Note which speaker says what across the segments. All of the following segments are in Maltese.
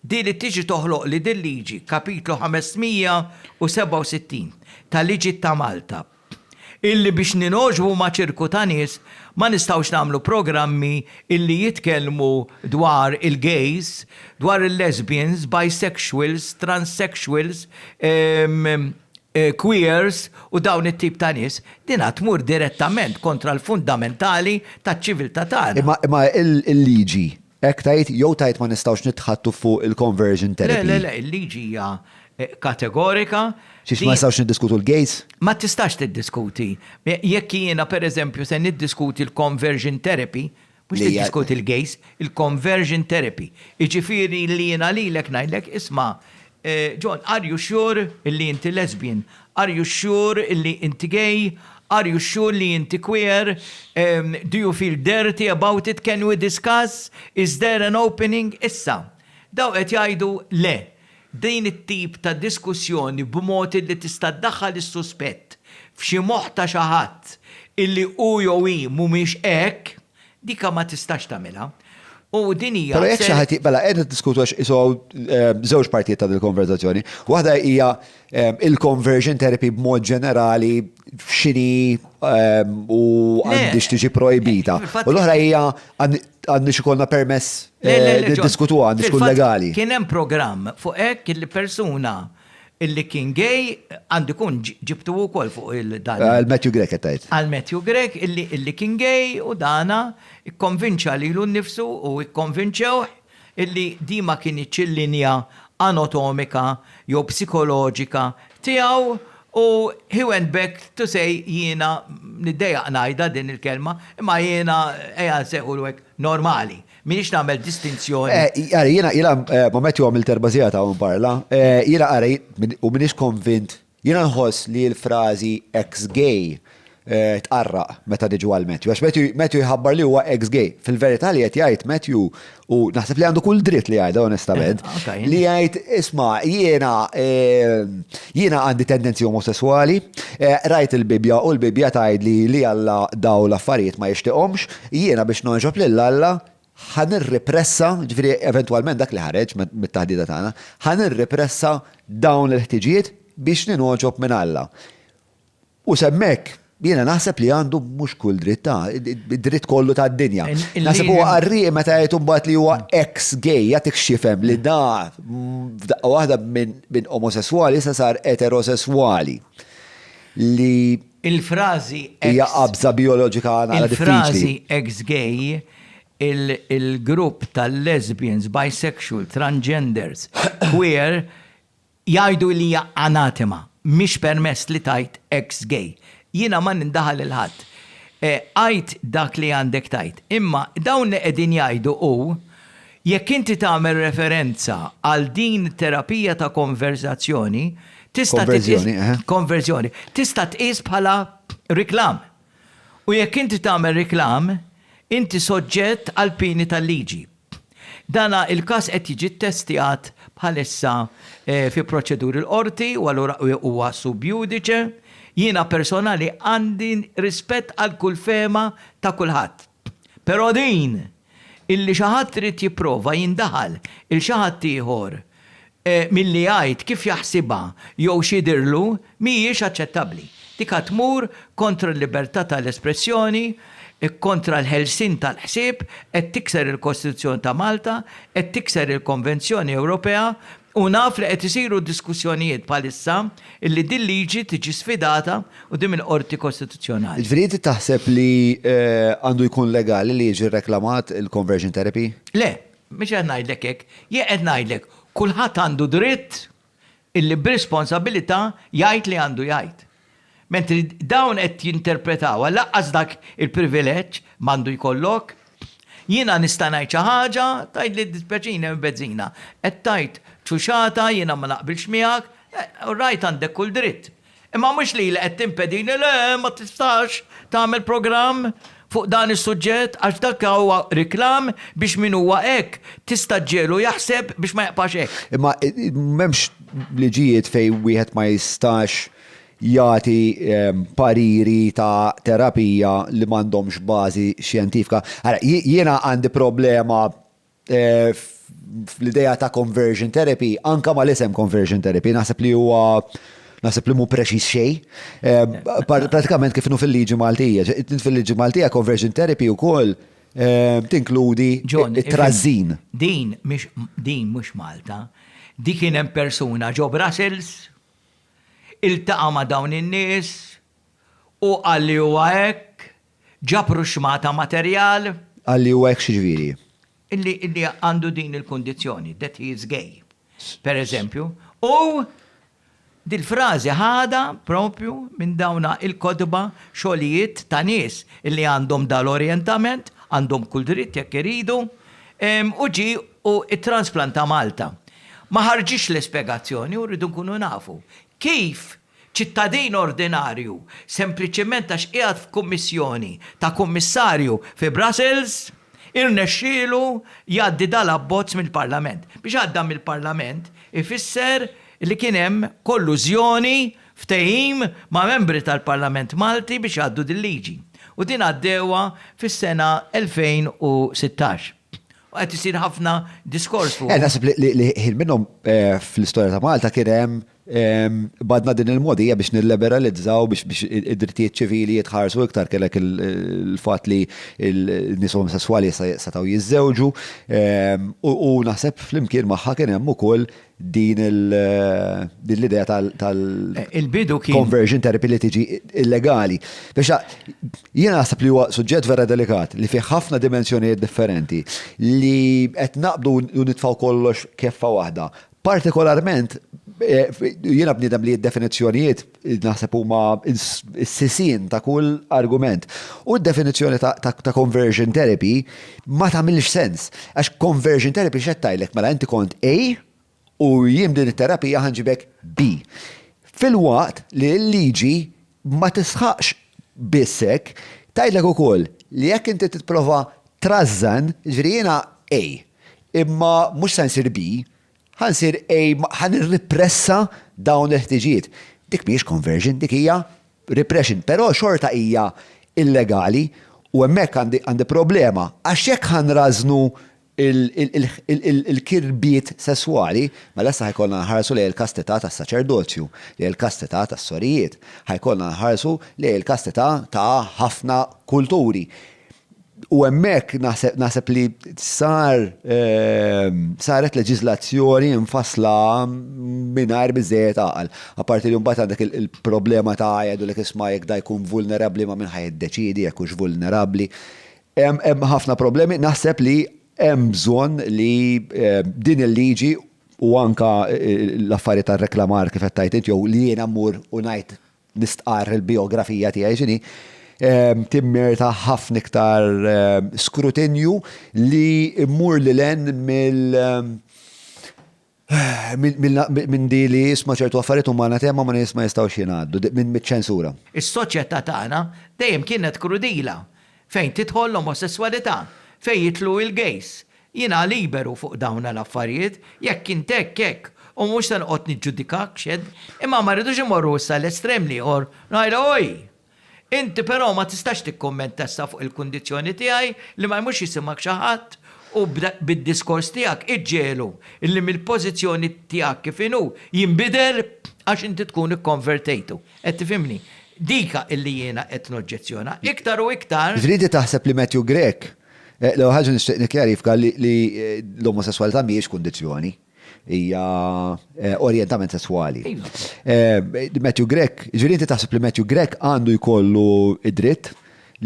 Speaker 1: Di li tiġi toħloqli din liġi, Kapitlu 567 ta' Liġi ta' Malta, illi biex ningħoġbu ma' ċirku ta' nies ma nistgħux nagħmlu programmi illi jitkellmu dwar il-gays, dwar il-lesbians, bisexuals, transsexuals, queers u dawn it-tip ta' nies, dinha tmur direttament kontra l-fundamentali taċ-ċiviltà tagħna. Imma
Speaker 2: il-liġi Hekk tgħid jew tgħid ma nistgħux nitħaddtu fuq il-conversion therapy? Le, le, le, il-liġi hija
Speaker 1: kategorika. Xiex ma
Speaker 2: nistgħux niddiskutu l-gays? Ma tistax
Speaker 1: tiddiskuti. Jekk jiena pereżempju se niddiskuti l-conversion therapy, mhux tiddiskuti l-gays, il-conversion therapy. Jiġifieri li jiena lilek ngħidlek isma' John, are you sure illi inti lesbian? Are you sure illi inti gay? Are you sure illi inti queer? Do you feel dirty about it? Can we discuss? Is there an opening? Issa, dawn qed jgħidu le. Din it-tip ta' diskussjoni b'mod illi tista' ddaħħal is-suspett f'xi moħħ ta' xi ħadd illi hu jew hi mhumiex hekk, Dika ma tistax tagħmilha. U din hija. Però jekk xi ħadd j-, mela qegħdin
Speaker 2: niddiskutu għax qishu hawn żewġ partijiet ta' din il-konverżazzjoni. Waħda hija il-conversion therapy b'mod ġenerali x'inhi u għandhiex tiġi projbita. U l-oħra hija għandhiex ikollna permess niddiskutuha, għandhiex tkun legali. Kien hemm programm
Speaker 1: fuq hekk li persuna illi kien gay, għandu kun ġibtu wkoll fuq il-dan. Għal Matthew Grek qed tgħid.
Speaker 2: Għal Matthew Grek
Speaker 1: illi illi kien gay u dana ikkonvinċa lilu nnifsu u ikkonvinċewh illi din ma kinitx il-linja anotomika jew psikoloġika tiegħu u he went back to say jiena niddejjaq ngħidha din il-kelma imma jiena ejja nsejħulu hekk normali. M'iniex nagħmel distinzjoni. Ara, jiena jiena
Speaker 2: moment jew għamilt erba' sigħat hawn parla, jiena ara u m'iniex konvint, jiena nħoss li l-frażi ex-gay tqarraq meta niġu għal Matthew. Għax Matthew jħabbar li huwa ex-gay. Fil-verità li qed jgħid Matthew u naħseb li għandu kull dritt li jgħidha onestament, li jgħid isma' jiena jiena għandi tendenzi omosesswali, rajt il-Bibbja u l-Bibbja tgħidli li Alla daw l-affarijiet ma jixtieqhomx, Jiena biex nogħġob lil Alla, ħa nirripressa, jiġifieri eventwalment dak li ħareġ mit-taħdita tagħna, ħa nirripressa dawn il-ħtiġijiet biex ningħoġob minn Alla. U s'hemmhekk jiena naħseb li għandu mhux kull dritt, ta' id-dritt kollu tad-dinja. Naħseb huwa qarrieqi meta jgħid imbagħad li huwa eks gay, jagħtik x'jifhem li da f'daqqa waħda minn omosesswali issa sar eterosesswali li Il-frażi
Speaker 1: ex. Hija qabża
Speaker 2: bijoloġika naqra diffiċli. Il-frażi ex gay,
Speaker 1: il-grupp tal-lesbians, bisexual, transgenders, queer, jgħidu li hija anatema, mhix permess li tgħid ex gay. Jiena ma nindaħal lil ħadd. Għid dak li għandek tgħid. Imma dawn li qegħdin jgħidu hu Jekk inti tagħmel referenza għal din it-terapija ta' konverżazzjoni, tista' titqies. Konverżjoni, eħe. Konverżjoni. Tista' tqies bħala riklam. U jekk inti tagħmel riklam, inti soġġett għall-pieni tal-liġi. Dan il-każ qed jiġi ttestjat bħalissa fi proċeduri l-Qorti u allura huwa sub iudice. Jiena personali għandi rispett għal kull fehma ta' kulħadd. Però din, illi xi ħadd irid jipprova jindaħal 'il xi ħadd ieħor milli jgħid kif jaħsibha jew x'jidhirlu, mhijiex aċċettabbli. Dik għad tmur kontra l-libertà ta' l-espressjoni, kontra l-ħelsien tal-ħsieb, qed tikser il-Kostituzzjoni ta' Malta, qed tikser il-Konvenzjoni Ewropea U naf li qed isiru diskussjonijiet bħalissa illi din liġi tiġi sfidata quddiem il-Qorti Kostituzzjonali. Ġifieri inti taħseb
Speaker 2: li għandu jkun legali li jiġi rreklamat il-conversion therapy? Le, mhux
Speaker 1: qed ngħidlek hekk. Jien qed ngħidlek, kulħadd għandu dritt illi b'responsabilità jgħid li għandu jgħid. Mentri dawn qed jinterpretawha, lanqas dak il-privileġġ m'għandu jkollok. Jiena nista' ngħid xi ħaġa, tgħid li ddispjaċini hemm il-bezzina. Qed tgħid ċuċata, jiena ma naqbilx miegħek, all right għandek kull dritt. Imma mhux li li qed timpedini, le, ma tistax tagħmel programm. fuq dan is-suġġett għax dak huwa reklam biex min huwa hekk tista' ġġiegħlu jaħseb biex ma jibqax hekk. Imma m'hemmx
Speaker 2: liġijiet fejn wieħed ma jistax jagħti pariri ta' terapija li m'għandhomx bażi xjentifika. Ara, jiena għandi problema fl-idea ta' conversion therapy, anka ma l-isem conversion therapy, naħseb li huwa naħseb li mu preċis xej. Ehm, pratikament kif nu fil-liġi Maltija, fil-liġi Maltija conversion therapy u koll ehm, tinkludi trażin. Din mhix
Speaker 1: din mhux Malta. Di kien hemm persuna ġo Brussels, iltaqa' ma' dawn in-nies, Hu qal li huwa hekk? Ġabru xmata materjal? Qal li huwa hekk
Speaker 2: x'jiġifieri? Li
Speaker 1: għandu din il-kundizzjoni, that he is gay, per eżempju, u dil-frażi ħadha proprju minn dawn il-kotba, xogħlijiet ta' nies li għandhom dal-orjentament, għandhom kull dritt jekk iridu, u ġie u ttransplanta Malta. Ma ħarġitx l-ispjegazzjoni u rridu nkunu nafu kif ċittadin ordinarju sempliċement għax qiegħed f'kummissjoni ta' kummissarju fi Brussels, irnexxielu jgħaddi dal-abbozz mill-Parlament. Biex għadda mill-Parlament ifisser li kien hemm kollużjoni, ftehim ma' membri tal-Parlament Malti biex jgħaddu dil-liġi. U din għaddewha fis-sena 2016. U qed isir ħafna diskors fuqha. Naħseb li ħin
Speaker 2: minnhom fl-istorja ta' Malta kien hemm Badna din il-mogħdija biex nilliberalizzaw biex id-drittijiet ċivili jitħarsu iktar kellek il-fatt li n-nies omosesswali setgħu jiżżewġu u naħseb flimkien magħha kien hemm ukoll din l-idea tal.
Speaker 1: Il-bidu kien. Conversion therapy li tiġi
Speaker 2: illegali. Biex jien naħseb li huwa suġġett vera delikat li fih ħafna dimensjonijiet differenti li qed naqbdu u nitfgħu kollox keffa waħda Partikolarment, jiena bniedem li d-definizzjonijiet naħseb huma s-sisien ta' kull argument. U d-definizzjoni ta' conversion therapy ma tagħmilx sens. Għax conversion therapy x'qed tgħidlek? Mela inti kont A u jien b'din it-terapija ħa nġibek B. Filwaqt li l-liġi Ma tisħaqx biss hekk, tgħidlek ukoll li jekk inti tipprova trażżan, jiġifieri jiena A, imma mhux se nsir B, ħa nsir A, ħa nirripressa dawn il-ħtiġijiet. Dik mhijiex conversion, dik hija repression, però xorta hija illegali u hemmhekk għandi problema għax jekk ħa nrażżnu il-kirbiet sesswali, mela issa ħajkollna nħarsu lejn il-kastità tas-saċerdozju, lejn il-kastità tas-sorijiet, ħajkollna nħarsu lejn il-kastità ta' ħafna kulturi. U hemmhekk naħseb li sar saret leġiżlazzjoni mfassla mingħajr biżżejjed għaqal. Apparti li mbagħad għandek il-problema ta' jgħidulek isma' jekk da jkun vulnerabbli ma' min ħa jiddeċiedi jekk hux vulnerabbli. Hemm ħafna problemi, naħseb li hemm bżonn li din il-liġi u anke l-affarijiet tar-reklamar kif qed tgħid int jew li jiena mmur u ngħid nistqarr il-bijografija tiegħi x'inhi, timmerita ħafna iktar skrutinju li mmur lil hinn mill-, Minn di li isma' ċertu affarijiet huma anatema ma' nies ma jistgħux jingħaddu, miċ-ċensura. Is-soċjetà
Speaker 1: tagħna dejjem kienet krudila fejn tidħol l-omosesswalità, fejn jidħlu il-gays. Jiena liberu fuq dawna l-affarijiet, jekk int hekk, hekk, u mhux se noqgħod niġġudikak x'għedt, imma ma rridux immorru issa l-estrem l-ieħor, ngħidha oj! Inti però ma tistax tikkummenta issa fuq il-kundizzjoni tiegħi li ma jmurx jisimgħek xi ħadd u bid-diskors tiegħek iġġiegħlu li mill-pożizzjoni tiegħek kif inhu jinbidel għax inti tkun ikkonvertejtu. Qed tifhimni? Dik li jiena qed noġġezzjona. Iktar u iktar. Ġifieri inti taħseb li Matthew
Speaker 2: Grech, l-ewwel ħaġa nixtieq nikkjarifka li l-omosesswalità mhijiex kundizzjoni. hija orjentament sesswali. Matthew Grech, ġifieri inti taħseb li Matthew Grech għandu jkollu id-dritt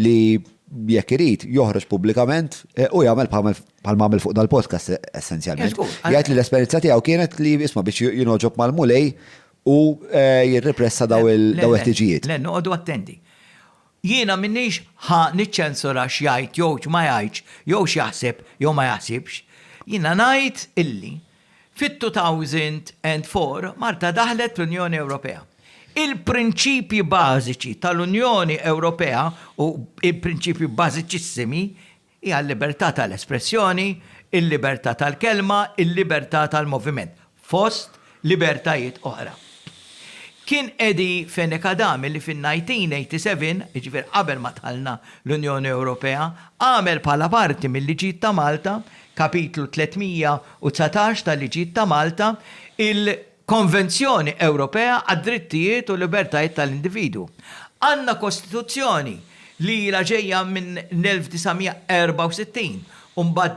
Speaker 2: li jekk irid joħroġ pubblikament eh, u jagħmel bħal ma fuq dal-podcast eh, essenzjalment. Jgħid li l-esperjenza tiegħu kienet li isma' biex jinoġob mal-mulej u eh, jirrepressa daw il-ħtiġijiet. Le, noqogħdu attenti.
Speaker 1: Jiena m'iniex ħa niċċensura x'jgħid jew x'ma jgħidx jew x'jaħseb jew ma jaħsibx. Jiena ngħid illi fit-2004 Malta daħlet l-Unjoni Ewropea. Il-prinċipji bażiċi tal-Unjoni Ewropea u l-prinċipji bażiċissimi Hija l-libertà tal-espressjoni, il-libertà tal-kelma, il-libertà tal-moviment, fost libertajiet oħra. Kien Eddie Fenech Adami li fin-1987, jiġifieri qabel ma dħalna l-Unjoni Ewropea, għamel bħala parti mil-Liġijiet ta' Malta, Kapitlu 319 tal-Liġijiet ta' Malta, il, Konvenzjoni Ewropea għad-Drittijiet u l-Libertajiet tal-Individwu. Għandna Kostituzzjoni li ilha ġejja minn l-1964 u mbagħad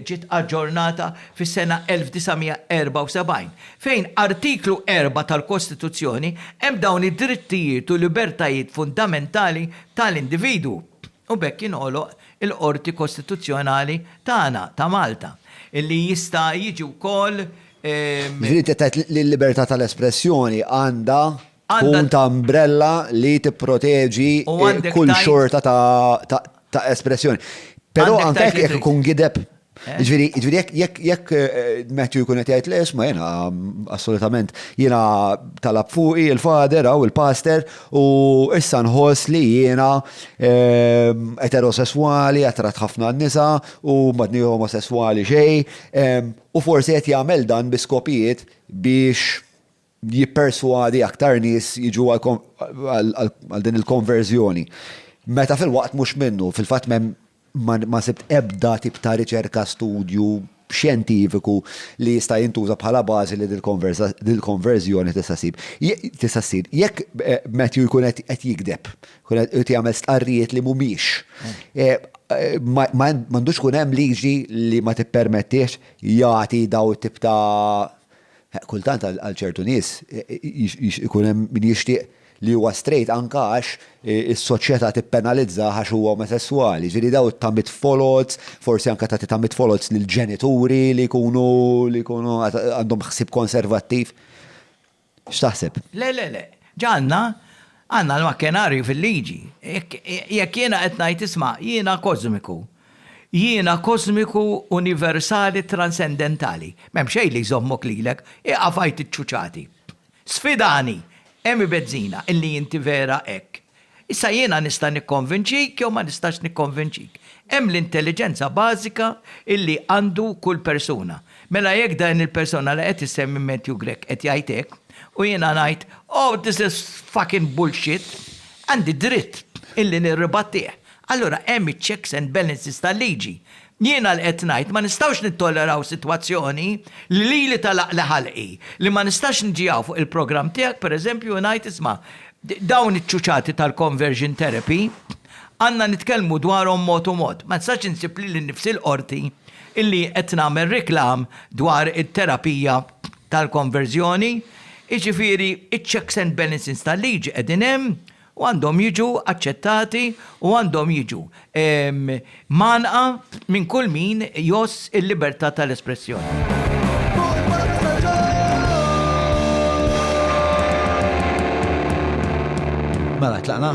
Speaker 1: ġiet aġġornata fis-sena 1974, fejn Artiklu 4 tal-Kostituzzjoni hemm dawn id-drittijiet u libertajiet fundamentali tal-individwu. u b'hekk jinħoloq il-Qorti Kostituzzjonali tagħna, ta' Malta, li jista' jiġi wkoll. Jiġifieri
Speaker 2: inti qed tgħid li l-libertà tal-espressjoni għandha tkun ta' umbrella li tipproteġi kull xorta ta' espressjoni. Però anke jekk ikun gideb Eh? Ġviri, ġviri, jek, jek, eh, Matthew jkun qed jgħid l-isma jena, assolutament, jena talab fuqi il-fader u il-paster u issa nħoss li jena eh, eterosessuali, attrat ħafna n-nisa u madni homosessuali xej u forsi qed jagħmel dan bi skopijiet biex jipperswadi aktar nies jiġu għal din il-konverżjoni. Meta fil-waqt mhux minnu, fil-fatt m'hemm ma sibt ebda tip ta' riċerka, studju xjentifiku li jista' jintuża bħala bażi li dil-konverżjoni tista' ssib. Tista' ssir. Jekk Matthew jkun qed jigdeb, jkun qed jagħmel stqarrijiet li mhumiex, m'għandux ikun hemm liġi li ma tippermettiex jagħti dawn it-tip ta' Kultant għal ċertu nies ikun hemm min jixtieq li huwa straight anke għax is-soċjetà tippenalizzah għax huwa omosesswali. Ġifieri dawn it-tamiet foloz, forsi anke tagħti tamiet foloz lill-ġenituri li jkunu li jkunu għandhom ħsieb konservattiv. X'taħseb? Le, le, le.
Speaker 1: Ġa għandna, għandna l-makkenarju fil-liġi. Jekk jiena qed ngħid isma' jiena kożmiku, Jiena kożmiku, universali, transendentali. M'hemm xejn li jżommok lilek. Ieqaf għid iċ-ċuċati. Sfidani! Hemm ibeżżina illi inti vera hekk. Issa jiena nista' nikkonvinċik jew ma nistax nikkonvinċik. Hemm l-intelliġenza bażika illi għandu kull persuna. Mela jekk din il-persona li qed issemmi Matthew Grech qed jgħid hekk, u jiena ngħid, Oh, this is fucking bullshit, għandi dritt illi nirribattih Allura hemm iċ-checks and balances tal-liġi. Jiena li qed ngħid ma nistgħux nittolleraw sitwazzjoni li lili tagħlaqli ħalqi, li ma nistax niġi hawn fuq il-programm tiegħek pereżempju u ngħid isma' dawn iċ-ċuċati tal-conversion therapy għandna nitkellmu dwarhom mod u mod. Ma nistax insib lili nnifsi l-Qorti illi qed nagħmel reklam dwar it-terapija tal-konverżjoni. Jiġifieri iċ-checks and balances tal-liġi qegħdin hemm u għandhom jiġu aċċettati u għandhom jiġu mgħannqa minn kull min jgħożż il-libertà tal-espressjoni.
Speaker 2: Mela, tlaqna?